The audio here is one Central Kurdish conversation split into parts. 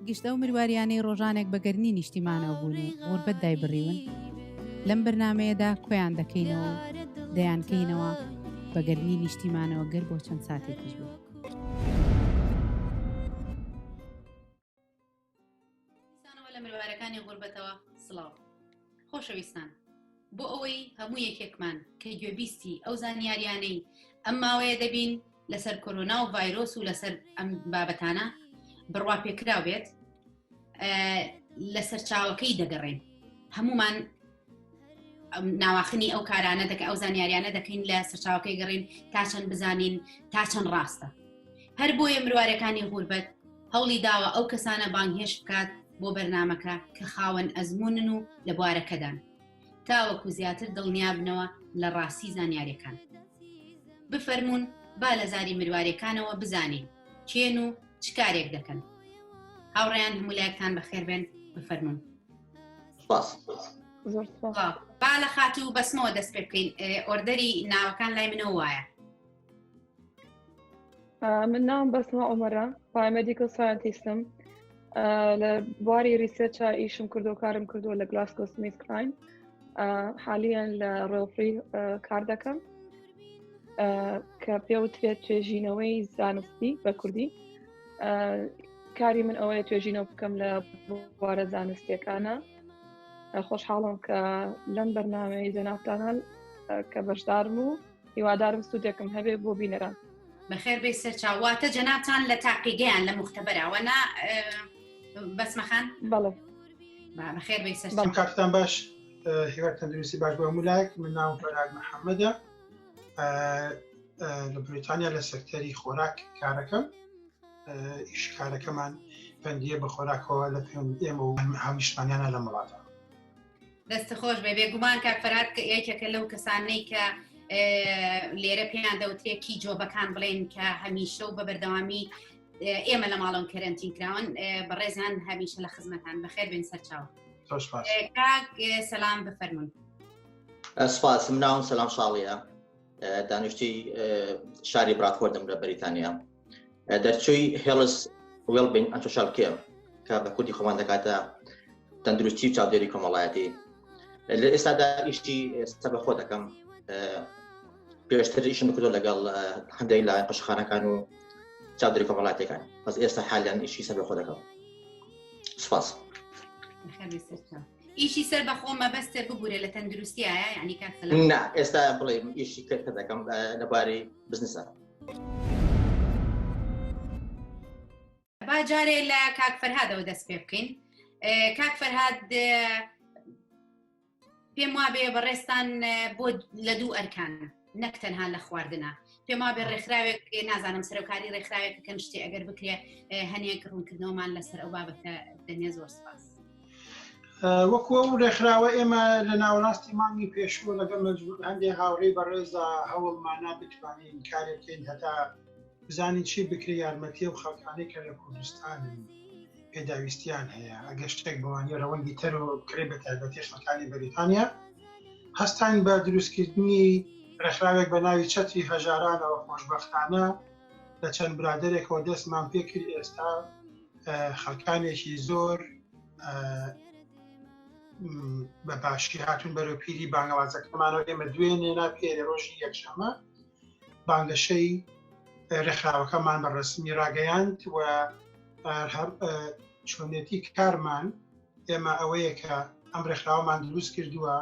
گشت ئەو مرواریانەی ڕۆژانێک بە گەرمی نیشتیمانەوە بوون و غوربەت دایبڕیون لەم بەرنامەیەدا کۆیان دەکەینەوە و دەیانکەینەوە بە گەرمی نیشتیمانەوە گەر بۆ چەند ساتێکیش بێت. دیسانەوە لە مرۆڤارەکانی غوربەتەوە سڵاو خۆشەویستان بۆ ئەوەی هەموو یەکێکمان کە گوێبیستی ئەو زانیاریانەی ئەم ماوەیە دەبین لەسەر کۆرۆنا و ڤایرۆس و لەسەر ئەم بابەتانە بڕوا پێکرا بێت لە سەرچاوەکەی دەگەڕێن هەمومان ناواخنی ئەو کارانە دەکە ئەو زانیاریانە دەکەین لە سەرچاوەکەی گەڕین تا چەند بزانین تا چەند ڕاستە هەر بۆیە مروارەکانی غوربەت هەوڵی داوە ئەو کەسانە بانگهێش بکات بۆ بەرنمەکە کە خاوەن ئەزمونن و لە بوارەکەدان تاوەکو زیاتر دڵنیابنەوە لە ڕاستی زانیارەکان بفەرمونون با لە زاری مروارەکانەوە بزانین کێن و چ کارێک دەکەن هاوڕیان هەمولایەکتان بەخێربێن بفەرمونون سپاس با لە خات و بەسمەوە دەست پێ بکەین ئۆردەری ناوەکان لای منەوە وایە من ناوم بەسمە ئۆمەرە پایمەدیکل ساینتیستم لە بواری ریسێچە ئیشم کردو کارم کردووە لە گلاسکۆ سمیت کراین حالیان لە ڕێڵفری کار دەکەم کە پێوترێت توێژینەوەی زانستی بە کوردی کاری من ئەوەیە توێژینەوە بکەم لە بوارە زانستیەکانە خۆشحاڵم کە لەم بەرنمەی جەنافتانان کە بەشدارم و هیوادارم سوودێکم هەبێ بۆ بینەران بەخێر بێ سەرچاواتە جەناتان لە تاقیگەیان لە مختبەرەوە نا بەسمەخان بەڵێ بەخێر بێ سەر کاتتان باش هیوای تەندروستی باش بۆ هەموو لایەک من ناو بەراد محەممەدە لە بریتانیا لە سەکتەری خۆراک کارەکەم ئیشکارەکەمان پەندە بە خۆراکەوە لە پێند ئێمە و هەمیشتانیانە لە وڵاتە دەست خۆش بێ بێگومان کاک فەرات کە یەکێکە لەو کەسانەی کە لێرە پێیان دەوترێکی جۆبەکان بڵێن کە هەمیشە و بە بەردەوامی ئێمە لە ماڵەوە کەرەنتین کراون بەڕێزان هەمیشە لە خزمەتان بەخێر بێن سەرچاو سەسلام بفەرمونون. سپاس من ناوم سەلام شاڵیە دانیشتی شاری براتفۆردم لە بەریتانیا دەرچووی هێڵس وێڵبین ئەنتۆشال کێم کە بە کوردی خۆمان دەکاتە تەندروستی و چاودێری کۆمەڵایەتی لە ئێستادا ئیشتی سە بە خۆ دەکەم پێشتر ئیشم بکردۆ لەگەڵ هەندێک لە قەشخانەکان و چاودێری کۆمەڵاتەکان بەس ئێستا حالیان ئیشی سە بە خۆ دەکەم سپاس. ئیشی سەر بەخۆ مەبەستە ببوورە لە تەندروستیایە یعنی کاک سەلام نا ئێستا بڵێ ئیشی کە کە دەکەم اه، لەبارەی بزنسە با جارێ لە کاک فەرهادەوە دەست پێ بکەین اه، کاک فەرهاد اه، پێم وابێ بەڕێستان اه، بۆ لە دوو ئەرکانە نەک تەنها لە خواردنە پێماوە بێ ڕێکخراوێک نازانم سەرۆکاری ڕێکخراوێک کەم شتێ ئەگەر بکرێ هەنێک ڕوونکردنەوەمان لەسەر ئەو بابەتە دەنێ زۆر سپاس. وەکو ئەو ڕێکخراوە ئێمە لە ناوەڕاستی مانگی پێشوە لەگەڵ مەجبور هەندێک هاوڕێ بەڕێزا هەوڵمانە بتوانین کارێکەین هەتا بزانین چی بکرێ یارمەتی و خەڵکانەی کە لە کوردستان پێداویستیان هەیە ئەگەر شتێک بەوانی ڕەوەندی تەر و بکرێت بە تایبەتی خەکانی بەریتانیا هەستان بە دروستکردنی ڕێکخراوێک بە ناوی چەتری هەژارانەوە خۆشببختانە لە چەند برادێکەوە دەستمان پێکرد ئێستا خەکانێکی زۆر بە باشی هاتون بەرەو پیری بانگەوازەکەمانەوە ئێمە دوێنێ ناپێرە ڕۆژی یەکشەمە بانگەشەی ڕێکخراوەکەمان بە ڕسمی ڕاگەیاند و چۆنێتی کارمان ئێمە ئەوەیە کە ئەم ڕێکخراوەمان دروست کردووە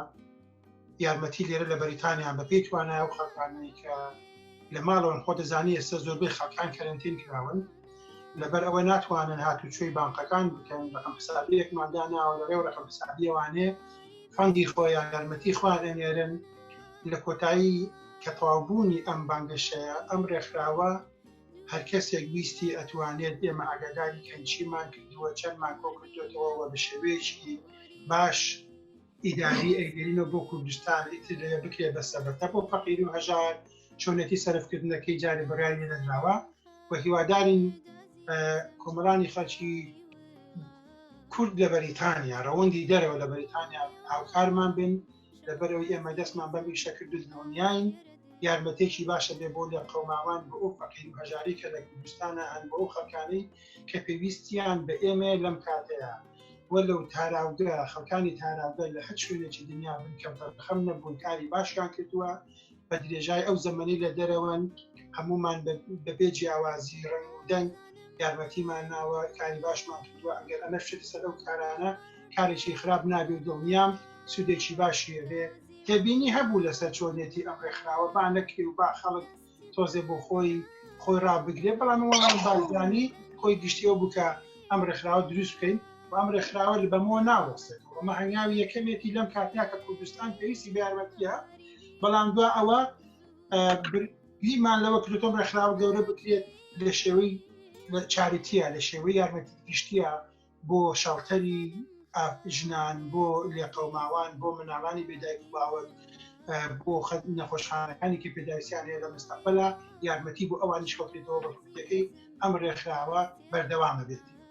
یارمەتی لێرە لە بەریتانیان بە پێی توانای و خەڵکانی کە لە ماڵەوەن خۆ دەزانی ئێستا زۆربەی خەکان کەرنتین کراون لەبەر ئەوە ناتوانن هاتوچۆی بانقەکان بکەن ڕقم حسابەکمانداناوە لەڕێ و ڕقم حسابیەوانێ فەندی خۆیان یارمەتی خوارێنێرن لە کۆتایی کە تەواو بوونی ئەم بانگەشەیە ئەم ڕێکخراوە هەر کەسێک ویستی ئەتوانێت ئێمە ئاگاداری کەن چیمان کردووە چەندمان کۆ کردوێتەوە و بە شێوەیەکی باش ئیداری ئەیگەرینەوە بۆ کوردستان ئیتر لەوێ بکرێت بە سەبەتە بۆ فەقیر و هەژار چۆنێتی سەرفکردنەکەی جارێ بڕای لێ نەدراوە و هیوادارین کۆمەڵانی خەڵکی کورد لە بەریتانیا ڕەوەندی دەرەوە لە بەریتانیا هاوکارمان بن لەبەرەوەی ئێمە دەستمان بەم ئیشە کرد و دڵنیاین یارمەتێکی باشە بێ بۆ لە قەوماوان بۆ ئەو فەقیر و هەژاری کە لە کوردستانە هەن بۆ ئەو خەکانەی کە پێویستیان بە ئێمە لەم کاتەیە وە لەو تاراوگە خەکانی تاراوگە لە هەر شوێنێکی دنیا بن کەم تەرخەم نەبوون کاری باشیان کردووە بە درێژای ئەو زەمەنی لە دەرەوەن هەمومان بەبێ جیاوازی ڕنگ و دەنگ یارمەتیمان ناوە کاری باشمان کردووە ئەگەر ئەمە شت سەر ئەو کارانە کارێکی خراپ نابێ و دڵنیام سوودێکی باشی هەبێ تێبینی هەبوو لەسەر چۆنێتی ئەم ڕێکخراوە با نەکرێ و با خەڵک تۆزێ بۆ خۆی خۆی ڕابگرێ بەڵام وەڵام بازانی خۆی گشتی ئەو بکە ئەم ڕێکخراوە دروست بکەین و ئەم ڕێکخراوە لە بەمەوە ناوەستێت ئەمە هەنگاوی یەکەمێتی لەم کاتیا کە کوردستان پێویستی بە یارمەتیە بەڵام دو ئەوە گریمان لەوە کرێتۆم ڕێکخراوە گەورە بکرێت لە شێوەی لە چاریتیە لە شێوەی یارمەتی گشتیە بۆ شەڵتەری ژنان بۆ لێقەوماوان بۆ مناڵانی بێدایک و باوەت بۆ خەت نەخۆشخانەکانی کە پێداویستیان هەیە لە مستەقبلا یارمەتی بۆ ئەوانیش کۆکرێتەوە بەکوتەکەی ئەم ڕێکخراوە بەردەوامە بێت.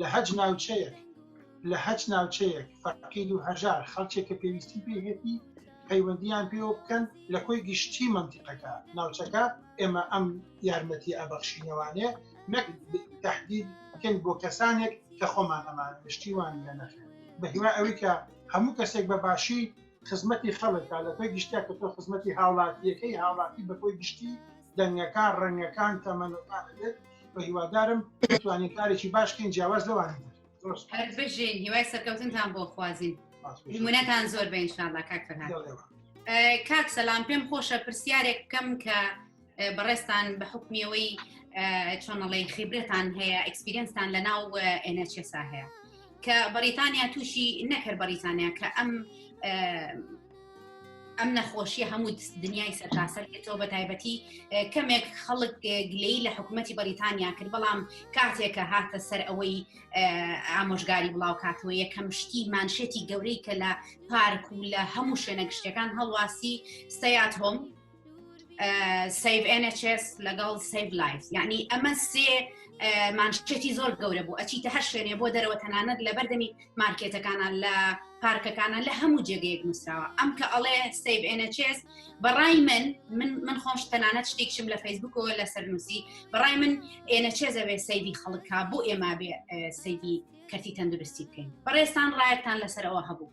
لە هەج ناوچەیەک لە هەچ ناوچەیەک فەقید و هەژار خەڵکێک کە پێویستی پێهێتی پەیوەندیان پێوە بکەن لە کۆی گشتی منتیقەکە ناوچەکە ئێمە ئەم یارمەتی ئەبەخشینەوانێ نەک تهدید بکەین بۆ کەسانێک کە خۆمان ئەمان گشتیوان لە نەخێن بە هیوا ئەوی کە هەموو کەسێک بە باشی خزمەتی خەڵکە لە تۆ گشتیا کە تۆ خزمەتی هاوڵاتیەکەی هاوڵاتی بە تۆی گشتی دەنگەکان ڕەنگەکان تەمەنەکان دێت بە هیوادارم توانین کارێکی باشکەین جیاواز لەوانی بژین هیوای سەرکەوتنتان بۆ خوازیین منەتان زۆر بە ئینشاءله کاک فەرهاد کاک سەلام پێم خۆشە پرسیارێک بکەم کە بەڕێستان بە حکمیەوەی چۆنەڵی خیبرەتان هەیە ئەکسپیرنسان لە ناو ئێنەچێسا هەیە کە بەریتانیا تووشی نەکرد بەریتانیا کە ئەم ئەم نەخۆشیە هەموو دنیای سەرتاسەر تۆ بە تایبەتی کەمێک خەڵک گلەی لە حکوومەتتی بەریتانیا کرد بەڵام کاتێکە هاتە سەر ئەوەی ئامۆژگاری بڵاو کاتەوە یەکەم شتی مانشێتی گەورەی کە لە پارک و لە هەموو شوێنە گشتەکان هەڵواسی سەیات هۆم سیف NHS لەگەڵ سیف لایف یعنی ئەمە سێ مانشتێتی زۆر گەورە بوو ئەچیتە هەر شوێنێ بۆ دەرەوە تەنانەت لە بەردەمی مارکێتەکانە لە پارکەکانە لە هەموو جێگەیەک نووسراوە ئەم کە ئەڵێ سیف NHS بەڕای من من من خۆش تەنانەت شتێکشم لە فەیسبوکەوە لە سەرنووسی بەڕای من ئێنەچێزەوێ سەیدی خەڵکا بۆ ئێمە بێ سەیدی کەرتی تەندروستی بکەین بەڕێستان ڕایەتان لەسەرەوە هەبوو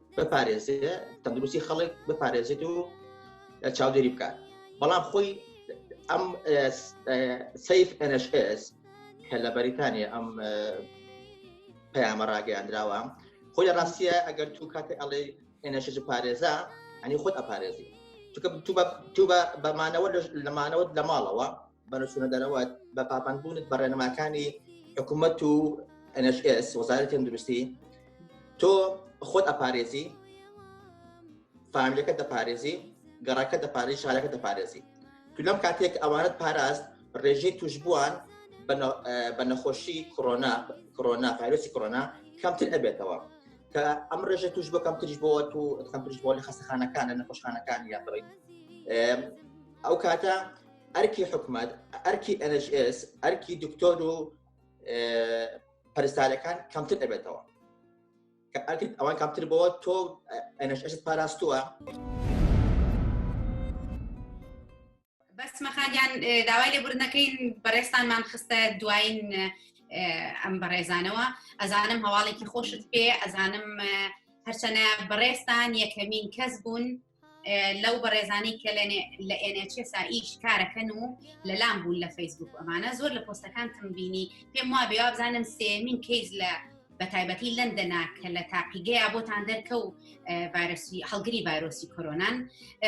بپارێزێت تەندروستی خەڵک بپارێزێت و چاودێری بکات بەڵام خۆی ئەم سیف NHS کە لە بەریتانیا ئەم پەیامە ڕاگەیاندراوە خۆی لە ڕاستیە ئەگەر تو کاتێ ئەڵێ NHS پارێزە ئەنی خۆت ئەپارێزی تو بە بەمانەوە لەمانەوە لە ماڵەوە بەرەچونە دەرەوە بە پابندبوونت بە ڕێنماکانی حکوومەت و NHS وەزارەت تەندروستی تۆ خۆت ئەپارێزی فامیلەکە دەپارێزی گەڕەکە دەپارێزی شارەکە دەپارێزی تو لەم کاتێک ئەوانت پاراست ڕێژەی توشبووان بە نەخۆشی کۆنا کۆنا پارێسی کۆنا کەمتر ئەبێتەوە کە ئەم ڕێژە توش بۆ کەمترش بۆ تو کەمترش بۆ لە خەستەخانەکان لە نەخۆشخانەکان یاڕی ئەو کاتە ئەرکی حکومەت ئەرکی NHS ئەرکی دکتۆر و پەرستارەکان کەمتر ئەبێتەوە کە ئەرکت ئەوان کەمتر بەوە تۆ NHS پاراستووە. بەس مەخاگیان داوای لێبوردنەکەین بەڕێستانمان خستە دوایین ئەم بەڕێزانەوە ئەزانم هەواڵێکی خۆشت پێ ئەزانم هەرچەنە بەڕێستان یەکەمین کەس بوون لەو بەڕێزانەی کە لە NHSA ئیش کارەکەن و لەلام بوون لە فەیسبوک ئەمانە زۆر لە پۆستەکانتم بینی پێم وا بێوا بزانم سێمین کەیس لە بە تایبەتی لەندەنا کە لە تاقیگەیە بۆتان دەرکە و ڤایرۆسی هەڵگری ڤایرۆسی کۆرۆنان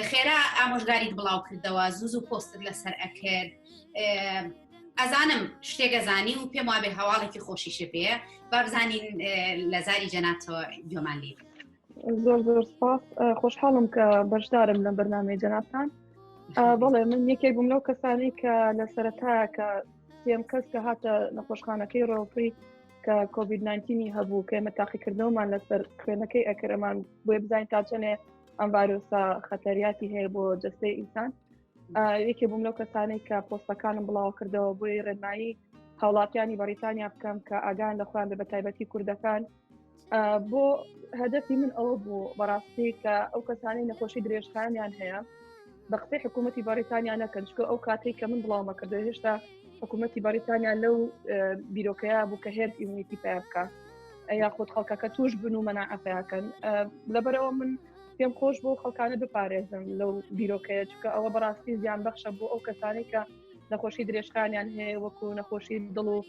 خێرا ئامۆژگاریت بڵاو کردەوە زوو زوو پۆستت لەسەر ئەکرد ئەزانم شتێگەزانی و پێم وابێ هەواڵێکی خۆشیشە پێ بابزانین لە زاری جەناتەوە گۆمان لێ زۆر زۆر سپاس خۆشحاڵم کە بەشدارم لەم بەرنامەی جەنابان بەڵێ من یەکێک بووم لەو کەسانی کە لە سەرەتا کە سێم کەس کە هاتە نەخۆشخانەکەی ڕۆفری کە کۆVید 19 هەبوو کە ئمە تاقیکردنەوەمان لەسەر خوێنەکەی ئەکرەمان بۆێ بزانین تا چەنێ ئەم ڤایرۆسا خەتەریاتی هەیە بۆ جستەی ئینسان یەکێ بووم لەو کەسانەی کە پۆستەکانم بڵاو کردەوە بۆی ڕێنایی هاوڵاتیانی بەریتانیا بکەم کە ئاگان لە خۆیان بە تایبەتی کوردەکان بۆ هەدەفی من ئەوە بوو بەڕاستی کە ئەو کەسانی نەخۆشی درێژخانیان هەیە بە قسەی حکوومەتتی بەریتانیا نەکەن چکە ئەو کاتێک کە من بڵاومە کردو هێشتا حکوومەتتی بەریتانیا لەو بیرۆکەیە بوو کە هێرت ئیمونیتی پێ بکە یا خۆت خەڵکەکە توش بن و مەناعەپیاکەن لەبەرەوە من پێم خۆش بۆ خەڵکانە بپارێزم لەو بیرۆکەیە چکە ئەوە بەڕاستی زیان بەخشە بۆ ئەو کەسانی کە نەخۆشی درێژخانیان هەیە وەکو نەخۆشی دڵ و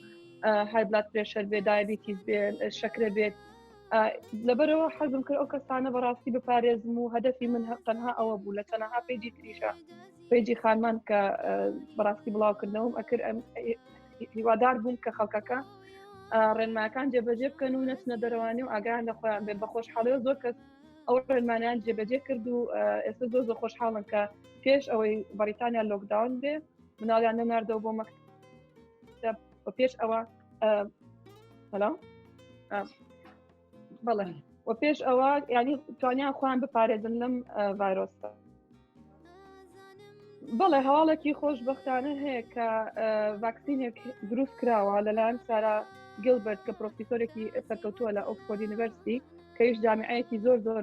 های بلاد پرێشەر بێ دایبیتیز بێ شەکرە بێت لەبەرەوە حەزم کرد ئەو کەسانە بەڕاستی بپارێزم و هەدەفی من تەنها ئەوە بوو لە تەنها پێجی تریشە پێجی خانمان کە بەڕاستی بڵاوکردنەوەم ئەکر ئەم هیوادار بووم کە خەڵکەکە ڕێنماکان جێبەجێ بکەن و نەچنە دەروانی و ئاگان لە خۆیان بێت بە خۆشحاڵەوە زۆر کەس ئەو ڕێنمانیان جێبەجێ کرد و ئێستا زۆر زۆر خۆشحاڵن کە پێش ئەوەی بەریتانیا لۆکداون بێ مناڵیان نەناردەوە بۆ مەکتب پێش ئەوە سلام بەڵێ و پێش ئەوە ینی توانیان خۆیان بپارێزن لەم ڤایرۆستا بەڵێ هەواڵێکی خۆشببختانە هەیە کە ڤاکسینێک دروست کراوە لەلایەن سارا گلبرت کە پرۆفیسۆرێکی سەرکەوتووە لە ئۆکسفۆردی یونیڤرستی کەیش جامعەیەکی زۆر زۆر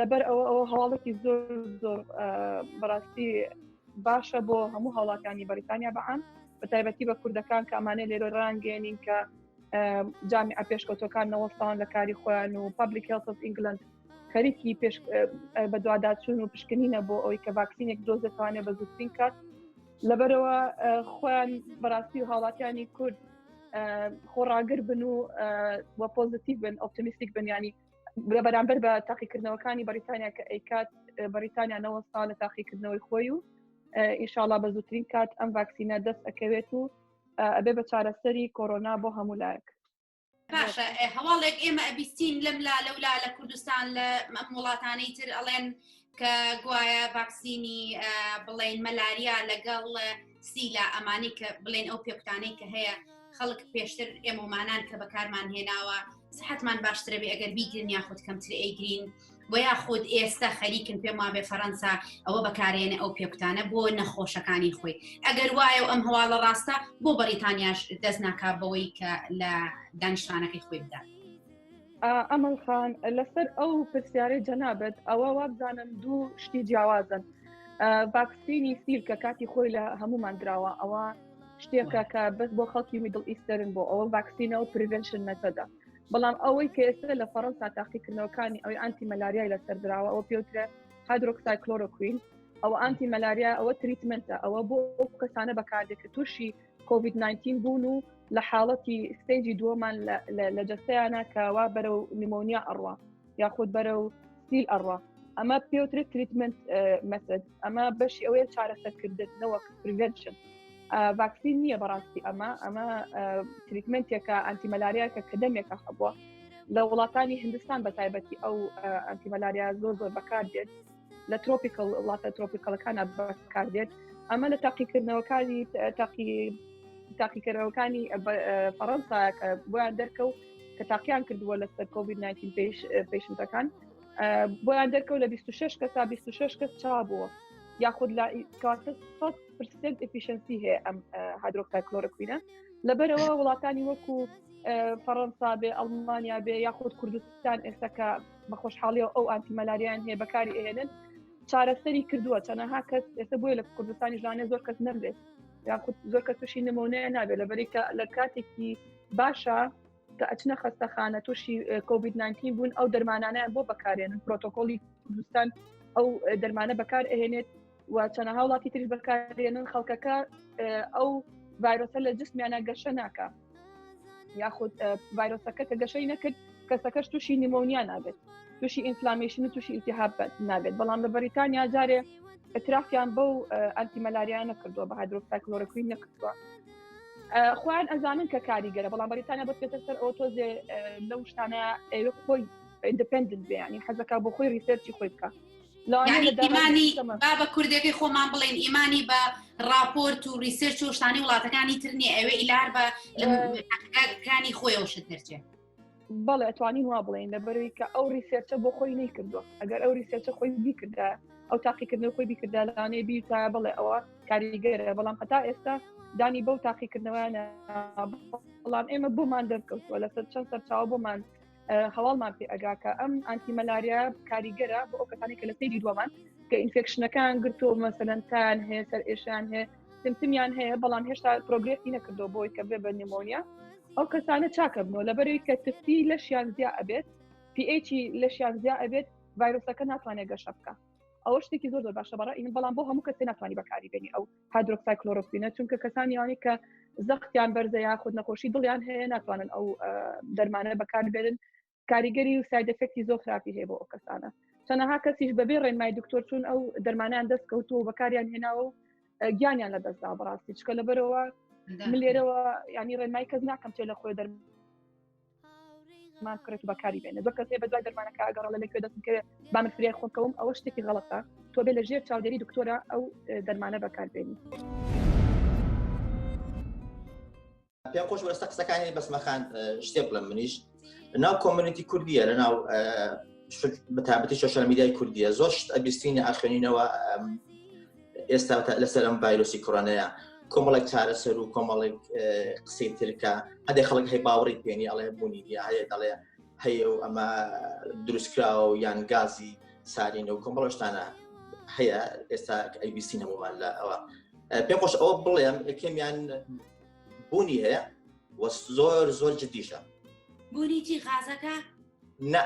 لەبەر ئەوە ئەوە هەواڵێکی زۆر زۆر بەڕاستی باشە بۆ هەموو هەوڵاتانی بەریتانیا بەعام بە تایبەتی بە کوردەکان کامانێ لێرۆ ڕانگەێنین کە جامی ئەپێشکەوتەکان نەوەستان لە کاری خۆیان و پبلیک هێڵ ئینگلند خەریکی پێش بە دوواداچون و پشکنینە بۆ ئەوی کە ڤاکسینێک دۆزێتوانێ بە زووترین کات لەبەرەوە خۆیان بەڕاستی و هاوڵاتیانی کورد خۆڕاگر بن و وە پۆزیتیو بن ئۆپتمیستیک بنیانی لە بەرامبەر بە تاقیکردنەوەکانی بەریتانیا کە ئەیکات بەریتانیا نەوە ساڵ لە تاقیکردنەوەی خۆی و ئیشاڵا بە زووترین کات ئەم ڤاکسینە دەست ئەکەوێت و ئەبێ بە چارەسەری کۆرۆنا بۆ هەموو لایەک باشە هەواڵێک ئێمە ئەبیستین لەم لا لەولا لە کوردستان لە وڵاتانەی تر ئەڵێن کە گوایە ڤاکسینی بڵێن مەلاریا لەگەڵ سیلا ئەمانی کە بڵێن ئەو پێکتانەی کە هەیە خەڵک پێشتر ئێمەمانان کە بەکارمان هێناوە سحتمان باشترەبێ ئەگەر بیگرن یاخود کەمتر ئەیگرین و یاخود ئێستا خەریکن پێم وابێ فەەنسا ئەوە بەکارێنە ئەو پێکتانە بۆ نەخۆشەکانی خۆی ئەگەر وایە ئەم هەواڵە ڕاستە بۆ بەریتانیاش دەست ناکا بەوەی کە لە دانیشتانەکەی خۆی بدات. ئەمەل خان لەسەر ئەو پرسیارەی جەنابەت ئەوە وابزانم دوو شتی جیاوازن ڤاکسینی سیل کە کاتی خۆی لە هەمومان دراوە ئەوە شتێکە کە بەس بۆ خەڵکی میدڵ ئیستەرن بۆ ئەوە ڤاکسینە و پرڤشن مەتەدا بەڵام ئەوەی کە ئێستا لە فەڕەنسا تاقیکردنەوەکانی ئەوی ئانتی مەلاریای لەسەر دراوە ئەوە پێوترە هادرۆکسای کلۆرۆکوین ئەو ئانتی مەلاریا ئەوە تریتمنتە ئەوە بۆ ئەو کەسانە بەکاردێک کە تووشی کۆڤید 19 بوون و لە حاڵەتی ستەیجی دووەمان لە جەستەیانە کەوا بەرە و نمۆنیا ئەڕوا یاخود بەرە و سیل ئەڕوا ئەمە پێوترێت تریتمنت مەسد ئەمە بەشی ئەوەیە چارەسەرکردن نەوەک پرڤشن ڤاکسین نییە بەڕاستی ئەمە ئەمە تریتمنتێکە ئەنتیمەلاریاکە کە دەمێکە خەبووە لە وڵاتانی هندستان بە تایبەتی ئەو ئەنتیمەلاریا زۆر زۆر بەکار دێت لە ترۆپیکل وڵاتە ترۆپیکەڵەکانە بەکاردێت ئەمە لە تاقیکردنەوەکانی تاقی تاقیکردنەوەکانی فەڕەنسا کە بۆیان دەرکەوت کە تاقییان کردووە لە سەر کۆبی 19 پێش پێشنتەکان بۆیان دەرکەوت لە 26 کە تا 26 کەس چا بووە یاخود لە پرسنت ئفیشنسی هەیە ئەم هادرۆکتا کلۆرەکوینە لەبەرەوە وڵاتانی وەکو فەڕەنسا بێ ئەڵمانیا بێ یاخود کوردستان ئێستاکە بە خۆشحاڵیەوە ئەو ئاتی مەلاریان هەیە بەکاری ئەهێنن چارەسەری کردووە تەنەها کەس ئێستا بۆیە لە کوردستانی ژانێ زۆر کەس نەبێت یاخود زۆر کە تووشی نمونەیە نابێت لە بەریکە لە کاتێکی باشە کە ئەچنە خەستەخانە تووشی کۆبیت 19 بوون ئەو دەرمانانیان بۆ بەکارێنن پرۆتۆکۆلی کوردستان ئەو دەرمانە بەکار ئەهێنێت و چەنەها وڵاتی تریش بەکارێنن خەڵکەکە ئەو ڤایرۆسە لە جسمیانە گەشە ناکە یاخود ڤایرۆسەکە کە گەشەی نەکرد کەسەکەش تووشی نیمۆنیا نابێت تووشی ئینفلامیشن و تووشی ئیتیهاب نابێت بەڵام لە بەریتانیا جارێ ئەترافیان بەو ئەنتیمەلاریان نەکردووە بە هایدرۆکسایکلۆرەکوی نەکردووە خۆیان ئەزانن کە کاریگەرە بەڵام بەریتانیا بە پێتر سەر ئەو تۆزێ لەو شتانە ئەوێ خۆی ئیندپندنت بێ ینی حەزەکە بۆ خۆی ریسەرچی خۆی بکە یانی ئیمانی با بە کوردەکەی خۆمان بڵێن ئیمانی بە ڕاپۆرت و ریسرچ و شتانی وڵاتەکانی ترنی ئەوێ ئیلار بە لەکانی خۆی ئەو شت دەرچێت بەڵێ ئەتوانین وا بڵێن لەبەروی کە ئەو ریسێرچە بۆ خۆی نەی کردووە ئەگەر ئەو ریسێرچە خۆی بیکردە ئەو تاقیکردنەوە خۆی بیکردا لەانەیە بیتا بڵێ ئەوە کاریگەرە بەڵام هەتا ئێستا دانی بەو تاقیکردنەوەیانە بەڵام ئێمە بۆمان دەرکەوتووە لەسەر چەند سەرچاو بۆمان هەواڵمان پێ ئەگا کە ئەم ئەنتی مەلاریا کاریگەرە بۆ ئەو کەسانی کە لە سری دووەمان کە ئینفێکشنەکان گرتۆ مەسەلەنتان هەیە سەر ئێشان هەیە سمتمیان هەیە بەڵام هێشتا پرۆگرسی نەکردو بۆی کە بێ بە نمۆنیا ئەو کەسانە چاکەبنەوە لەبەرەوەی کە تفتی لەشیان زیا ئەبێت پیچی لەشیان زیا ئەبێت ڤایرۆسەکە ناتوانێت گەشە بکە ئەوە شتێکی زۆر زۆر باشە بەڕ بەڵام بۆ هەموو کەسێ ناتوانانی بەکاری بێنی ئەو هادرۆکسای کلۆرۆکوینە چونکە کەسانی ئەوانی کە زەختیان بەرزە یاخود نەخۆشی دڵیان هەیە ناتوانن ئەو دەرمانە بەکاربێنن کاریگەری و سایدەفکتی زۆر خراپی هەیە بۆ ئەو کەسانە چەنەها کەسیش بەبێ ڕێنمای دکتۆر چون ئەو دەرمانیان دەست کەوتو و بەکاریان هێناوە و گیانیان لە دەستدا بەڕاستی چکە لەبەرەوە لێرەوە ینی ڕێنمای کەس ناکەم چێ لە خۆی دەرمان ماسک ڕێک بەکاری بێنە زۆر کەسێ بە دوای دەرمانەکە ئەگەڕ لە لەکوێ دەستم کەوێت بامە فریای خۆکەوم ئەوە شتێکی غەڵەتە تۆ بێ لە ژێر چاودێری دکتۆرە ئەو دەرمانە بەکاربێنی. پێم خۆش بەستە قسەکانی بەسمەخان شتێ بڵم منیش ناو کۆمەنیتی کوردیە لە ناو بەتابەتی سوۆشال میدیای کوردیە زۆر ئەبیستینی ئاخێنینەوە ئێستا تا لەسەر ئەم ڤایرۆسی کۆرۆنەیە کۆمەڵێک چارەسەر و کۆمەڵێک قسەی ترکە هەندێک خەڵک هەی باوەڕی پێێنی ئەڵێ بوونی دی هەیە دەڵێ هەیە و ئەمە دروستکراوە و یان گازی سارینە و کۆمەڵشتانە هەیە ئێستا ئەیبیسی نەمومان لە ئەوە پێ خۆش ئەوە بڵێم یەکەمیان بوونی هەیە وە زۆر زۆر جدیشە بوونی چی غازەکە نە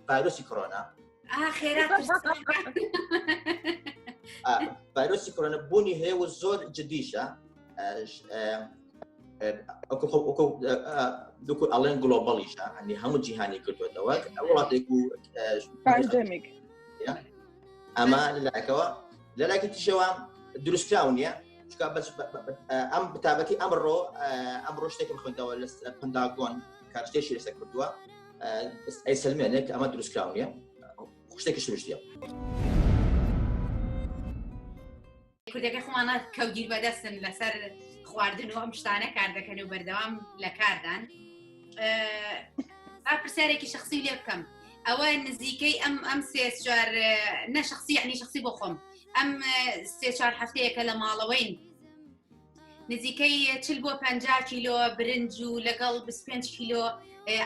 ڤایرۆسی کۆرۆنا ڤایرۆسی کۆرۆنا بوونی هەیە و زۆر جدیشە دوکو ئەڵێن گلۆبڵیشە هەنی هەموو جیهانی کردوێتەوە وڵاتێک و ئەمە لەلایەکەوە لەلایکی تیشەوە دروستکراو نییە ئەم بتابەتی ئەمڕۆ ئەمڕۆ شتێکم خوندەوە لە پنداگۆن کارشتێکی لەسەر کردووە ئەی سلمێنێک ئەمە دروستکرااو نیە شتێکی شتیە. کوردەکە خۆمانە کەوگیر بەدەستن لەسەر خواردن و ئەم شتانە کار دەکەن و بەردەوام لە کاردان پرسیارێکی شخصی لێ بکەم ئەوە نزیکەی ئەم ئەم سێ چوار نەشخصی عنی شخصی بۆ خۆم ئەم سێ چوار هەفتەیەکە لە ماڵەوەین نزیکەی چل بۆ پ کیلۆ برنج و لەگەڵ 25 کیلۆ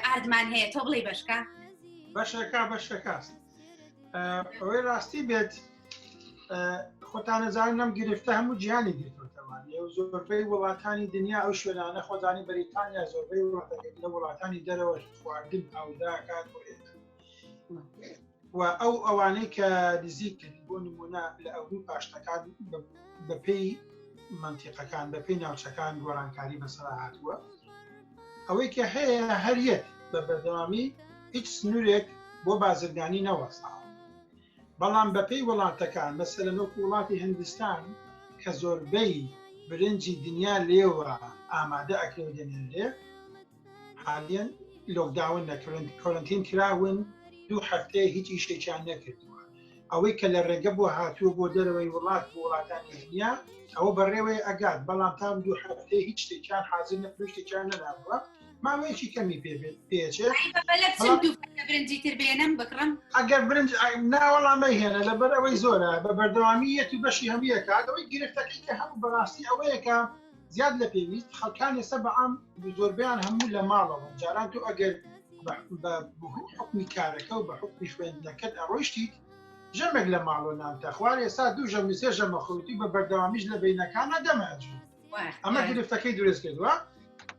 ئاردمان هەیە تۆ بڵی بەشکە بەشەکە بەشەکەست ئەوەی ڕاستی بێت خۆتانەزان نەم گرفتە هەموو جیهانی گرتوتەوان لێو زۆربەی وڵاتانی دنیا ئەو شوێنانە خۆزانی بەریتانیا زۆربەی وڵاتەکە لە وڵاتانی دەرەوە خواردن ئەوداکات و ئەو ئەوانەی کە نزیک کردی بۆ نمونە لە ئەوروی پاشتەکان بەپی منتیقەکان بەپی ناوچەکان گۆرانکاری بەسەر هاتووە ئەوەی کە هەیە هەریەک بە بەردەوامی هیچ سنوورێک بۆ بازرگانی نەوەستا بەڵام بەپی وڵاتەکان مەسە لە نۆک وڵاتی هندستان کە زۆربەی برنجی دنیا لێوە ئامادە ئەکرێ دەنێنرێ حالیان لۆکداون نەکردن کۆرنتین کراون دوو هەفتەیە هیچ ئیشێکیان نەکردووە ئەوەی کە لە ڕێگە بۆ هاتووە بۆ دەرەوەی وڵات بۆ وڵاتانی دنیا ئەوە بەڕێوەی ئەگات بەڵام تام دوو هەفتەیە هیچ شتێکیان حاضر نەپشتێکیان نەداوە ماوەیەکی کەمی پێ پێچێت برنجی تر بێنم بکڕم ئەگەر برنج ناوەڵامە هێنە لە بەرەوەی زۆرە بە بەردەوامی یەتی بەشی هەموویەکاتەوەی گرفتەکەی کە هەموو بەڕاستی ئەوەیەکە زیاد لە پێویست خەڵکان ئێستا بە عام زۆربیان هەموو لە ماڵەوەن جاران تۆ ئەگەر بە حکمی کارەکە و بە حکمی خوێندنەکەت ئەڕۆشتیت ژەمێک لە ماڵۆ نانتە خوار ئێستا دوو ژەم سێ ژەمە خۆتی بە بەردەوامیش لە بینەکانە دەمەج ئەمە گرفتەکەی درست کردووە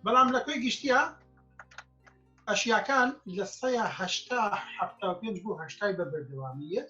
بەڵام لە کوێ گشتیە ئەشیاکان لە سەیە هەشتا هەفتا پێنج بۆ هەشتای بە بەردەوامیت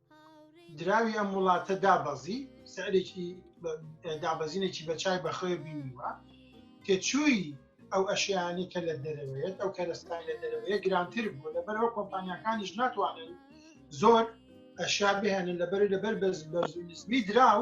دراوی ئەم وڵاتە دابەزی سعرێکی دابەزینێکی بە چای بەخۆێ بینیوە تێچووی ئەو ئەشیانەی کە لە دەرەوەیەت ئەو کەرەستای لە دەرەوەیە گرانتر بوو لەبەرەوە کۆمپانیەکانیش ناتوانن زۆر ئەشیا بهێنن لەبەر لەبەر بەرزبەرزنزمی دراو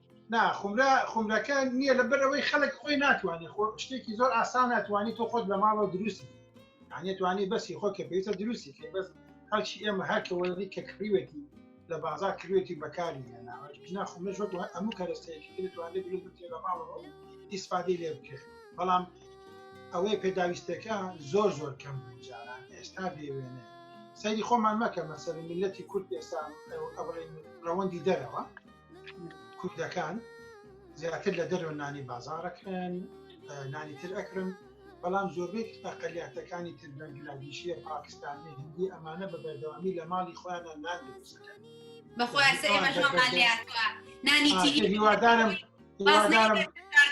نا خمرە خمرەکە نییە لە بەرەوەی خەڵک خۆی ناتوانێت خۆ شتێکی زۆر ئاسان ناتوانانی تۆ خۆت لە ماڵەوە دروستی توانی بەسی خۆ کە پێویستە دروستی کە بەس هەرچی ئێمە هەرکەوەی کە کڕیوێتی لە بازار کروێتی بەکاری لەناوەنا خمرش وەک هەموو کەرەستەیەکی دەتوانێت دروست بکرێت لە ماڵەوە ئیسپادی لێ بکرێت بەڵام ئەوەی پێداویستەکە زۆر زۆر کەم جاران ئێستا بێوێنێ سەیری خۆمان مەکە مەسەر میلەتی کورد ئێستا ئەوڕێ ڕەوەندی دەرەوە کوردەکان زیاتر لە دەرەوە نانی بازارەکەن نانی تر ئەکرم بەڵام زۆربەی ئەقلیاتەکانی تر بەنگلادیشیە پاکستانی هندی ئەمانە بە بەردەوامی لە ماڵی خۆیان نان دروستەکەن هیوادارم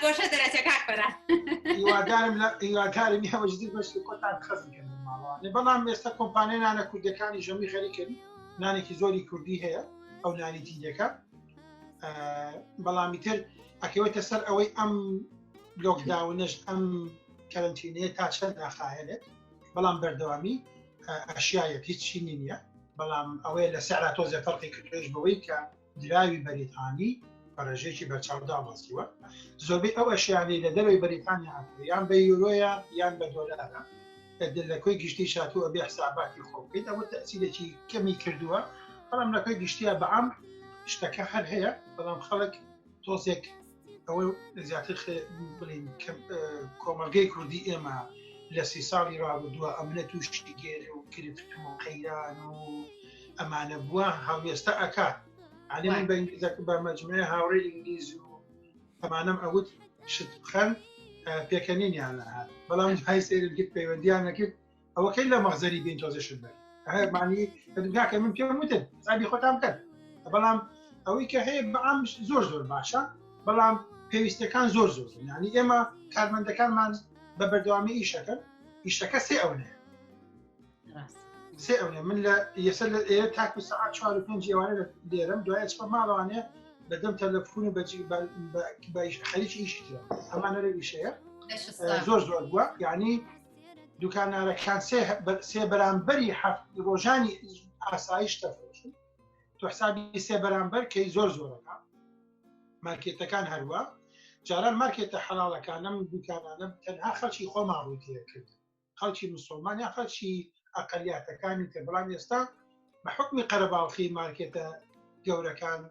گۆشە دەرەچە کاک بەرە هیوادارم لە هیوادارم هەوەژدی بەش کۆتان خەزیکەن بەڵام ئێستا کۆمپانیانە کوردەکانی ژەمی خەریکن نانێکی زۆری کوردی هەیە ئەو نالیتیدەکە بەڵامی تر ئەکەوێتە سەر ئەوەی ئەم لۆکداونش ئەم کەرنتینەیە تا چەند ناخایەنێت بەڵام بەردەوامی ئەشیایەت هیچ چینی نییە بەڵام ئەوەیە لە سەعرا تۆزە فەرقی کردێش بەوەی کە دراوی بەریتانی بەڕێژێکی بەرچاودا بەستیوە زۆربەی ئەو ئەشیانەی لە دەروی بەریتانیا یان بە یورۆیە یان بە دۆلارە ئەگەر لە کۆی گشتی شاتوو ئەبێ حساباتی خۆ بکەیت ئەوە تەسیرێکی کەمی کردووە بەڵام لە کۆی گشتیا بەعام شتەکە هەر هەیە بەڵام خەڵک تۆزێک ئەوە زیاتر بڵین کۆمەلگەی کوردی ئێمە لە سی ساڵی ڕابردووە ئەمنە تووشتی گێر و کرفت و قەیران و ئەمانە بووە هەڵوێستە ئەکات ئەلی من بە ئینگلیزەکە بە مەجموعە هاوڕێ ئینگلیز و ئەمانەم ئەوت شت بخەن پێکەنینیانە هات بەڵام های سێرم کرد پەیوەندیان نەکرد ئەوەکەی لە مەغزەری بین تۆزە شت بن هەمانی داکە من پێم وتن زابی خۆتان بکەن بەڵام ئەوەی کە هەیە بەعام زۆر زۆر باشە بەڵام پێویستەکان زۆر زۆر ینی ئێمە کارمەندەکانمان بە بەردەوامی ئیشەکەن ئیشەکە سێ ئەوەیە سێ ئەوێ من لە یەسەر لە ئێرە تاکو سعات چوار و پێنج ئێوانە لێرم دوایە چپە ماڵوانێ بەدەم تەلەفون و بەجی خەریک ئیشی ترە ئەمانە لە ئیشەیە زۆر زۆر بووە یعنی دوکانارەکان سێ بەرامبەری هەفت ڕۆژانی ئاسایش تەفرۆشن تو حسابی سێ بەرامبەر کەی زۆر زۆرەکە مارکێتەکان هەروە جاران مارکێتە حەڵاڵەکانم دوکانانە تەنها خەڵکی خۆمان ڕووتیە کرد خەڵکی مسلمان یا خەڵکی ئەقلیاتەکانی تر بەڵام ئێستا بە حکمی قەرەباڵخی مارکێتە گەورەکان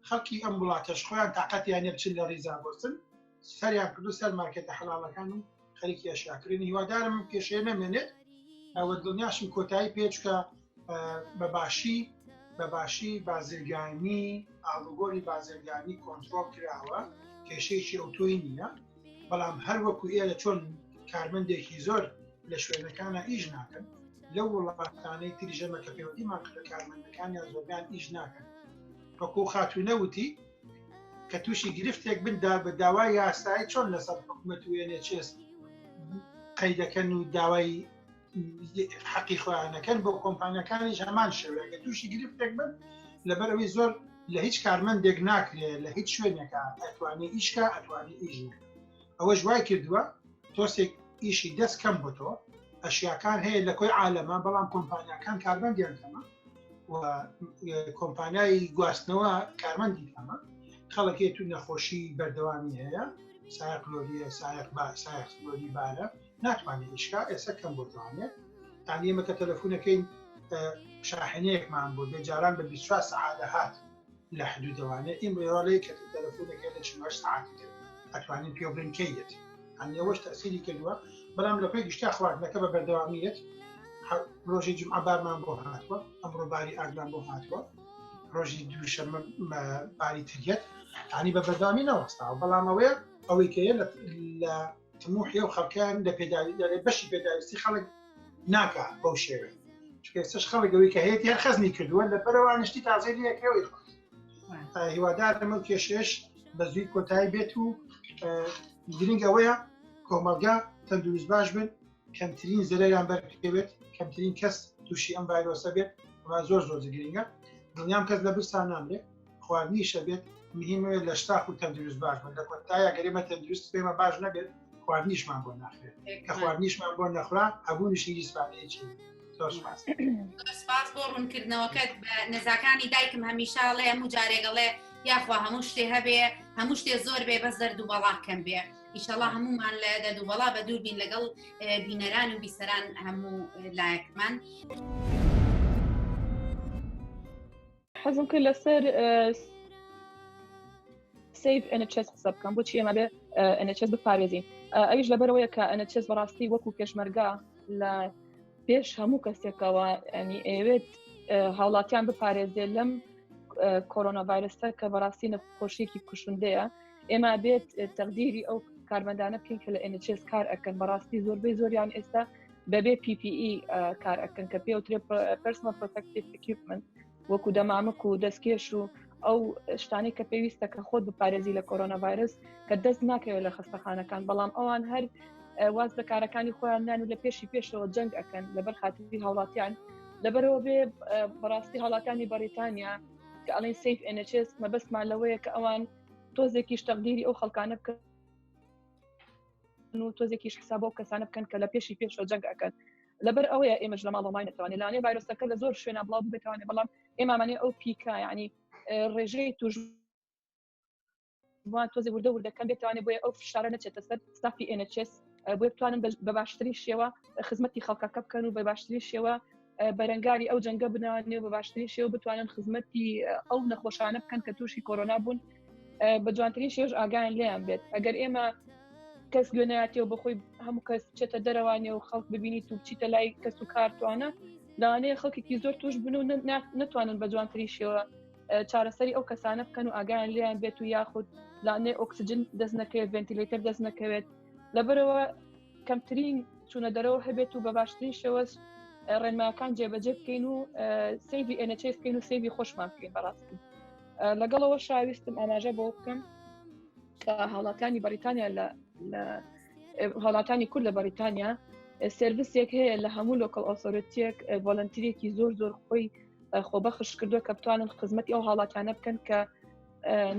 خەڵکی ئەم وڵاتەش خۆیان تااقەتیان نە بچن لە ریزا بۆستن سەریان کردو سەر مارکێتە حەڵاڵەکان و خەریکی ئەشیاکردن هیوادارم کێشەیە نەمێنێت ئەوە دڵنیاشم کۆتایی پێچکە بەباشی بەباشی بازرگانی ئاڵوگۆری بازرگانی کۆنتترۆل کراوە کێشەیەکی ئەو تۆی نییە بەڵام هەر وەکو ئێرە چۆن کارمەندێکی زۆر لە شوێنەکانە ئیش ناکەن لە وڵاتانەی تریژەمە کە پێوەندیمان کردە کارمەندەکانیان زۆرگان ئیش ناکەن وەکو خاتوو نەوتی کە تووشی گرفتێک بندا بە داوا یاسایی چۆن لەسەر حکوومەت وێنێ چێست قەیدەکەن و داوای حەقی خۆیانەکەن بۆ کۆمپانیەکانیش هەمان شێوەیەگە تووشی گرفتێک بن لەبەر ئەوی زۆر لە هیچ کارمەندێک ناکرێت لە هیچ شوێنێکە ئەتوانێت ئیشکە ئەتوانی ئیژ ئەوەش وای کردووە تۆسێک ئیشی دەست کەم بۆ تۆ ئەشیاکان هەیە لە کۆی عاالەمە بەڵام کۆمپانیەکان کارمەندیان کەمە کۆمپانیایی گواستنەوە کارمەندی کەمە خەڵکێت و نەخۆشی بەردەوامی هەیە سایقلۆریە سایق با سایقلۆری بارە ناتوانێ ئیشکا ئێستا کەم بۆ جوانێ یان ئێمە کە تەلەفونەکەین شاحنەیەکمان بۆ بێ جاران بە 24 سعات دەهات لە حدود دەوانێ ئیم ڕێواڵەیە کە تەلەفونەکە لە 48 سعات کرد ئەتوانین پێ بڵین کەی دێت ئەنیەوەش تەسیری کردووە بەڵام لە پێی گشتا خواردنەکە بە بەردەوامیت ڕۆژی جمعە بارمان بۆ هاتووە ئەمڕۆ باری ئاگمان بۆ هاتووە ڕۆژی دووشەمە باری تریەت ینی بە بەردامی نەوەستا بەڵامەوەیە ئەوەی کەە لە تموحی و خەڵکیان لە پێداوی بەشی پێداویستی خەڵک ناکە بەو شێوێ چکەسش خەڵکەوەی کە هەیە هەر خەزنی کردووە لە بەرەوانشتی تازەی لەکەوەی هیوادار لەمە کێشێش بە زووی کۆتایی بێت و گرنگ ئەوەیە کۆمەلگا تەندروست باش بن کەمترین زەرەیان بەرکەوێت کەمترین کەس تووشی ئەم ڤایرۆسە بێت زۆر زۆر گرنگە دڵنیام کەس لە برسان نامرێت خواردنی شەبێت مهمە لە شتاخ و تەندروست باش بن لە کۆتایە گەرێمە تەندروست پێمە باش نەبێت خواردنیشمان بۆ ناخێت کە خواردنیشمان بۆ نەخرا هەبوونیشی هیچپانەیەکی سپاس بۆ ڕوونکردنەوەکەت بە نەزاکانی دایکم هەمیشاڵێ هەموو جارێگەڵێ یاخوا هەموو شتێ هەبێ هەموو شتێ زۆر بێ بەس دەرد و بەڵا کەم بێ ئیشەڵا هەمومان لە دەرد و بەڵا بە دووربین لەگەڵ بینەران و بیسەران هەموو لایەکمان. حەزم کرد لەسەر سیف NHS قسە بکەم بۆچی ئێمە بێ NHS بپارێزین ئەویش لەبەرەوەیە کە NHS بەڕاستی وەکو پێشمەرگا لە پێش هەموو کەسێکەوە ئەنی ئەوێت هاوڵاتیان بپارێزێ لەم کۆرۆنا ڤایرسە کە بەڕاستی نەخۆشیێکی کوشندەیە ئێمە بێت تەقدیری ئەو کارمەندانە بکەین کە لە NHS کار ئەکەن بەڕاستی زۆربەی زۆریان ئێستا بەبێ PPE کار ئەکەن کە پێوترێ پرسنە پرۆتەکتیف ئەکیوپمنت وەکو دەمامک و دەستکێش و ئەو شتانی کە پێویستە کە خۆت بپارێزی لە کۆرۆنا ڤایرس کە دەست ناکەوێت لە خستەخانەکان بەڵام ئەوان هەر واز لە کارەکانی خۆیان نان و لە پێشی پێشەوە جەنگ ئەەکەن لەبەر خاتری هاوڵاتیان لەبەرەوە بێ بەڕاستی هاڵاتانی بەریتانیا کە ئەڵین سیف NHS مەبەستمان لەوەیە کە ئەوان تۆزێکی شتەقدیری ئەو خەڵکانە بکە و تۆزێکیش حساب بۆ کەسانە بکەن کە لە پێشی پێش بە جەنگ ئەکەن لەبەر ئەوەیە ئێمەش لە ماڵەمای نتوانێت لانێ ڤایرۆسەکە لە زۆر شوێنە بڵاو بتوانێت بەڵام ئێمامانێ ئەو پیکە ینی ڕێژەی توش وان تۆزی وردە وردەکەم بێتوانێت بۆیە ئەو فشارە نەچێتە سەر ستافی ئێنچس بۆ بتوانن بە باشترین شێوە خزمەتی خەڵکەکە بکەن و بە باشترین شێوە بەرەنگاری ئەو جەنگە بنەوە نێو بە باشترین شێو بتوانن خزمەتی ئەو نەخۆشانە بکەن کە تووشی کۆرۆنا بوون بە جوانترین شێژ ئاگایان لیان بێت ئەگەر ئێمە کەس گوێنایەتەوە بەخۆی هەموو کەس چێتە دەرەوانێ و خەڵک ببینی تو بچیتە لای کەس و کارتوانە لەوانەیە خەڵکێکی زۆر توش بن و نتوانن بە جوانترین شێوە چارەسەری ئەو کەسانە بکەن و ئاگایان لیان بێت و یاخود لانێ ئۆکسجن دەست نەکەوێت ڤنتیلەتەر دەست نەکەوێت لەبەرەوە کەمترین چوونە دەرەوە هەبێت و بە باشترین شێوەش ڕێنماکان جێبەجێ بکەین و سەیری ئەنەچێ بکەین و سەیری خۆشمان بکەین بەڕاستی لەگەڵەوە شاویستم ئاماژە بۆ بکەم کە هاوڵاتانی بەریتانیا لە هاوڵاتانی کورد لە بەریتانیا سرویسێک هەیە لە هەموو لۆکەڵ ئۆسۆرەتیەک ڤۆلنتیرێکی زۆر زۆر خۆی خۆبەخش کردووە کە بتوانن خزمەتی ئەو هاوڵاتیانە بکەن کە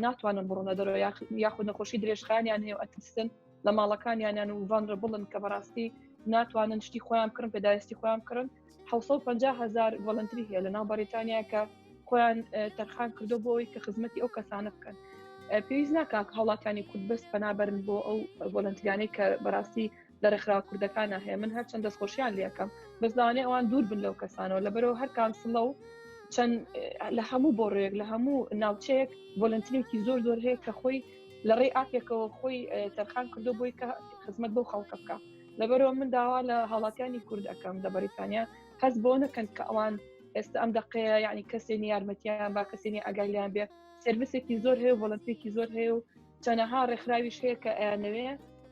ناتوانن بڕۆنە دەرەوە یاخود نەخۆشی درێژخانیان هەیە ئەترسن لە ماڵەکانیانیان و ڤانربڵن کە بەڕاستی ناتوانن شتی خۆیان کڕن پێداویستی خۆیان کڕن 550 هزار ڤلنتری هەیە لە ناو بەریتانیا کە خۆیان تەرخان کردو بۆ ئەوی کە خزمەتی ئەو کەسانە بکەن پێویست ناکاک هەوڵاتانی کورد بەست پەنابرن بۆ ئەو ڤلنتریانەی کە بەڕاستی لە ڕێکخرا کوردەکانە هەیە من هەرچەند دەستخۆشیان لەکەم بەزانێ ئەوان دوور بن لەو کەسانەوە لەبەرەوە هەر کانسڵە و چەند لە هەموو بۆڕێک لە هەموو ناوچەیەک ڤۆلنترێکی زۆر زۆر هەیە کە خۆی لە ڕێی ئاپێکەوە خۆی تەرخان کردو بۆی کە خزمەت بۆ خەڵکە بکە لەبەرەوە من داوا لە هاوڵاتیانی کورد ئەەکەم لە بەریتانیا هەست بۆ نەکەن کە ئەوان ئێستا ئەم دقەیە یعنی کەسێنی یارمەتیان با کەسێنی ئەگەلیان بێ سرویسێکی زۆر هەیە وڵەتێکی زۆر هەیە و چەنەها ڕێکخراویش هەیە کە ئەیانەوێ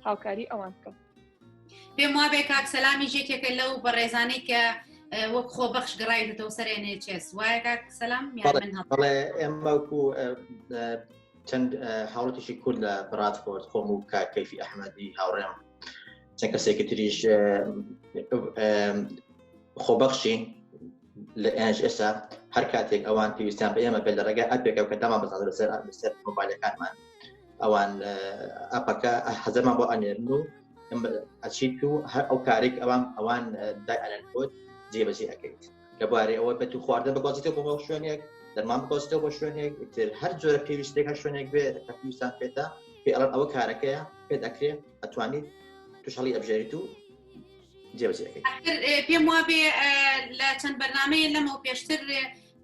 هاوکاری ئەوان بکەم پێم وابێ کاک سەلامی ژێکێکە لەو بەڕێزانەی کە وەک خۆ بەخش گەڕایتەوە سەرێنێ چێس وایە کاک سەلام من هەڵێ ئێمەکو چەند هاوڵەتێکی کورد لە بڕاتفۆرد خۆم و کاک کەیفی ئەحمەدی هاوڕێم چەند کەسێکی تریش خۆبەخشین لە ئێنج ئێستا هەر کاتێک ئەوان پێویستیان بە ئێمە بێت لە ڕێگە ئەپێکە کە دامان بەزان لەسەر لەسەر مۆبایلەکانمان ئەوان ئەپەکە هەزەمان بۆ ئەنێرن و ئەچیت و هەر ئەو کارێک ئەوان ئەوان دای ئەلەن کۆت جێبەجێ ئەەکەیت لەبارەی ئەوە بێت و خواردن بگوازیتەوە بۆ هەو شوێنێک دەرمان بگۆستەوە بۆ شوێنێک تر هەر جۆرە پێویستێک هەر شوێنێک بێ پێویستان پێێتە پێ ئەڵەن ئەوە کارەکەیە پێ دەکرێت ئەتوانیت توشەڵی ئەبژێریت و جێوزیەکەی پێم وابێ لە چەند بەرنمەیە لەمە پێشتر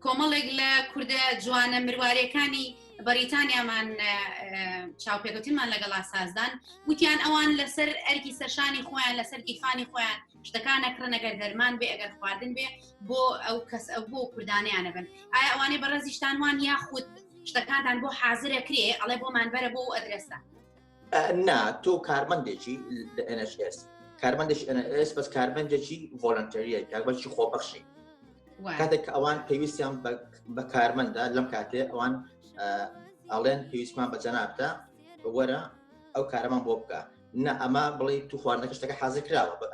کۆمەڵێک لە کووردە جوانە مروارەکانی بەریتانیامان چاوپێکوتیمان لەگەڵا سازدان وتیان ئەوان لەسەر ئەرکی سەرشانی خۆیان لەسەر گیرفانی خۆیان شتەکان نەکڕن ئەگەر دەرمان بێ ئەگەر خواردن بێ بۆ ئەو کەس ئەو بۆ کوردانیانە بن ئایا ئەوانەی بەڕێزیشتان وان یا خود شتەکانتان بۆ حازرە کرێ ئەڵێ بۆمان بەرە بۆ ئەدرسە نا تۆ کارمەندێکی لە NHS کارمەندێک NHS بەس کارمەندێکی ڤۆلنتەریە کاربەرکی خۆبەخشی کاتێک کە ئەوان پێویستیان بە کارمەندە لەم کاتێ ئەوان ئەڵێن پێویستمان بە جەنابتە وەرە ئەو کارەمان بۆ بکە نا ئەمە بڵێ تو خواردنەکە شتەکە حازر کراوە بە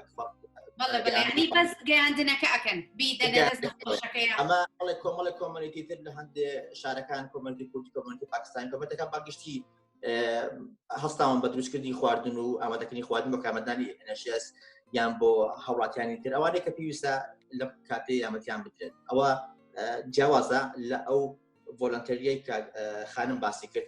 بەس گەیاندنەکە ئەکەن ئەمە بڵێ کۆمەڵە کۆمەلێتی تر لە هەندێ شارەکان کۆمەلتی کوردی کۆمەلتی پاکستان کۆمەتەکە پاگشتی هەستاوان بە دروستکردنی خواردن و ئامادەکردنی خواردن بە کامەدانی نەشێس یان بۆ هەوڵاتیانی تر ئەوانەیە کە پێویستە لە کاتی یامەتیان بدرێت ئەوە جیاوازە لە ئەو ڤۆلنتەریای کە خانم باسی کرد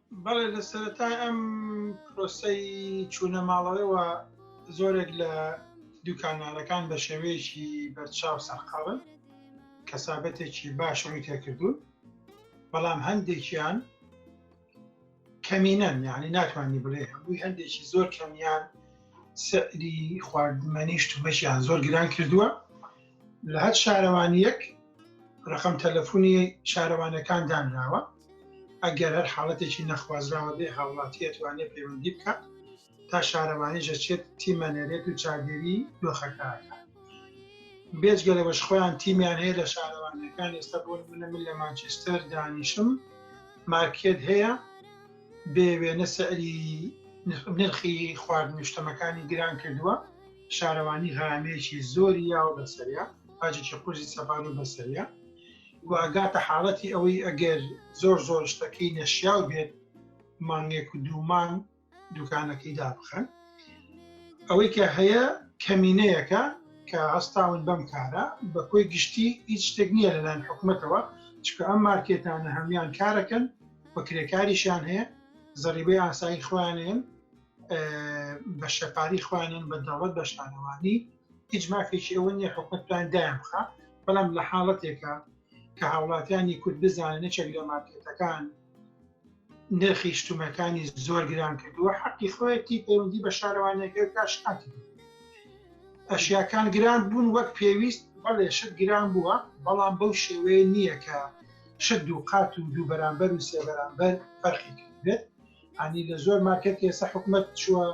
بەڵێ لە سەرەتای ئەم پرۆسەی چوونە ماڵەوەیەوە زۆرێک لە دوکاندارەکان بە شێوەیەکی بەرچاو سەرقاڵن کەسابەتێکی باش ڕووی تێکردوون بەڵام هەندێکیان کەمینەن یعنی ناتوانانی بڵێ هەمووی هەندێکی زۆر کەمیان سەری خواردمەنی شتومەشیان زۆر گران کردووە لە هەر شارەوانیەک ڕقم تەلەفۆنی شارەوانەکان دانراوە ئەگەر هەر حاڵەتێکی نەخوازراوە بێ هاوڵاتیە توانێت پەیوەندی بکات تا شارەوانی ژەچێت تیمەنێرێت و چاگەری دۆخەکەکە بێجگە لەوەش خۆیان تیمیان هەیە لە شارەوانەکان ئێستا بۆ منە من لە مانچستەر دانیشم مارکێت هەیە بێ وێنە سەری نرخی خواردنیشتەمەکانی گران کردووە شارەوانی غەرامەیەکی زۆری یاوە بەسەریا باجێکی قورزی سەپان و بەسەریا و ئەگاتە حاڵەتی ئەوەی ئەگەر زۆر زۆر شتەکەی نەشیاو بێت مانگێک و دوومان دوکانەکەی دابخەن ئەوەی کە هەیە کەمینەیەەکە کە هەستاون بەم کارە بە کۆی گشتی هیچ شتێک نییە لەلایەن حکوومەتەوە چکە ئەم مارکێتانە هەموان کارەکەن بە کرێکاریشیان هەیە زەریبەی ئاسایی خوانێن بە شەپاری خوانیان بە دەوڵەت بە شانەوانی هیچ مافێکی ئەوە نیە حکومت پلان دایان بخە بەڵام لە حاڵەتێکە کە هاوڵاتیانی کورد بزانن نەچێک لە مارکێتەکان نرخی شتومەکانی زۆر گران کردووە حەقی خۆیەتی پەیوەندی بە شارەوانەکە کاشکات ئەشیاکان گران بوون وەک پێویست بەڵێ شت گران بووە بەڵام بەو شێوەیە نییە کە شت دوو قات و دوو بەرامبەر و سێ بەرامبەر فەرقی کرد ئەنی لە زۆر مارکت ئێستا حکومت چووە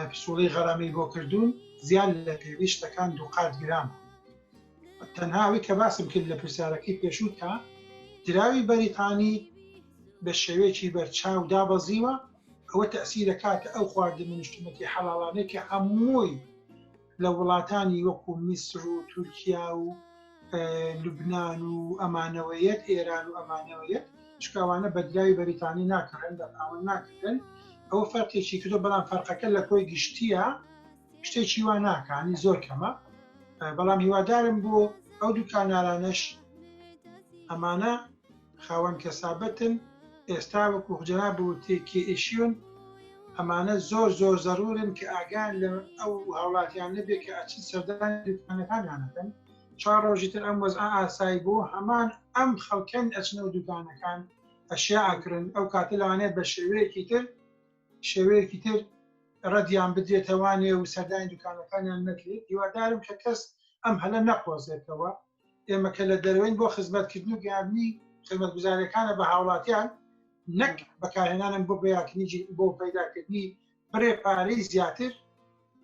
پسوڵی غەرامی بۆ کردوون زیان لە پێویستەکان دووقات گران تەنهاوی کە باسم کرد لە پرسیارەکەی پێشووتە دراوی بەریتانی بە شێوەیەکی بەرچاو دابەزیوە ئەوە تەسیرە کاتە ئەو خواردن منشتمەکی حەڵاڵانێکی هەمووی لە وڵاتانی وەکو میسر و تورکیا و لوبنان و ئەمانەوەیەت ئێران و ئەمانەوەیەت شکاوانە بەدراوی بەریتانی ناکڕن بە پاوەن ناکردن ئەوە فەرقێکی کردو بەڵام فەرقەکە لە کۆی گشتیە شتێکی وا ناکانی زۆر کەمە بەڵام هیوادارم بۆ ئەو دوکانارانەش ئەمانە خاوەن کەسابەتن ئێستا وەکو جەناب وتی کێئیشیون ئەمانە زۆر زۆر زەرورن کە ئاگان لە ئەو هاوڵاتیان نەبێ کە ئەچن سەردان دوکانەکانیانەکەن چوار ڕۆژی تر ئەم وەز ئاسایی بوو هەمان ئەم خەڵکەن ئەچنە و دوکانەکان ئەشیا ئاکرن ئەو کاتە لەوانەیە بە شێوەیەکی تر شێوەیەکی تر ڕەدیان بدرێتەوانێ و سەردانی دوکانەکانیان نەکرێت هیوادارم کە کەس ئەم هەلە نەقۆزێتەوە ئێمە کە لە دەرەوەین بۆ خزمەتکردن و گەیاندنی خزمەتگوزارەکانە بە هاوڵاتیان نەک بەکارهێنانم بۆ بەیاکنی بۆ پەیداکردنی بڕێ پارەی زیاتر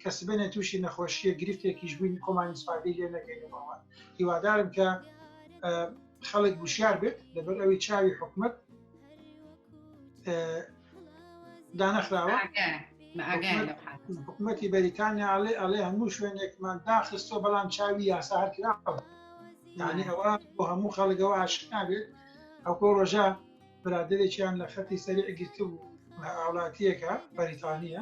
کە سبێنە تووشی نەخۆشیە گرفتێکیش بووین خۆمانی سوپادەی لێ نەکەینەوە هیوادارم کە خەڵک گوشار بێت لەبەر ئەوی چاوی حکومت دانەخراوە حکوومەتی بەریتانیا ئەڵێ ئەڵێ هەموو شوێنێکمان داخستۆ بەڵام چاوی یاسا هەرکراوە یعنی ئەوە بۆ هەموو خەڵگەوە ئاشنابێت ئەوکۆ ڕۆژە برادێکیان لە خەتی سەری ئەگیرتبوو هاوڵاتیەکە بەریتانیە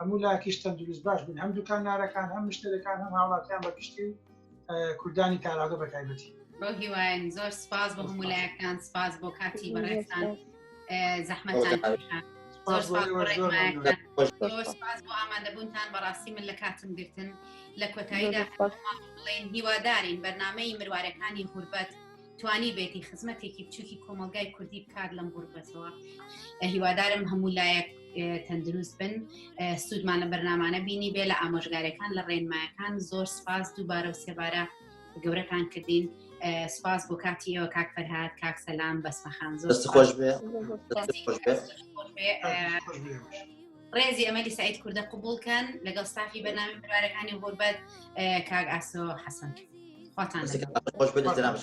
هەموو لاکیش تەندروست باش بن هەم دوکان نارەکان هەم مشتەرەکان هەم هاوڵاتیان بە گشتی و کوردانی تاراگە بە تایبەتی بۆ هیواین زۆر سپاس بۆ هەموو لایەکان سپاس بۆ کاتی بەڕێستان زەحمەتان ئامادەبوونتان بەڕاستی من لە کاتم گرتن لە کۆتاییدا بڵێن هیوادارین بەرنمەی مروارەکانی غوربەت توانیبێتی خزمەتێکی بچووکی کۆمەلگای کوردی بکات لەم غوربەتەوە هیوادارم هەموو لایەک تەندروست بن سوودمان لە بەرنمانە بینی بێ لە ئامۆژگارەکان لە ڕێنمایەکان زۆر سپاس دووبارە و سێبارە گەورەتان کردین سپاس بۆ کاتی ئەوە کاک فەرهاد کاک سەلام بەسمەخان زۆر خۆش بێ ڕێزی ئەمەلی سعید کوردە قوبول کەن لەگەڵ ستافی بەنامی برارەکانی غوربەت کاک ئاسۆ حەسەن خواتان خۆش بێت جنابش.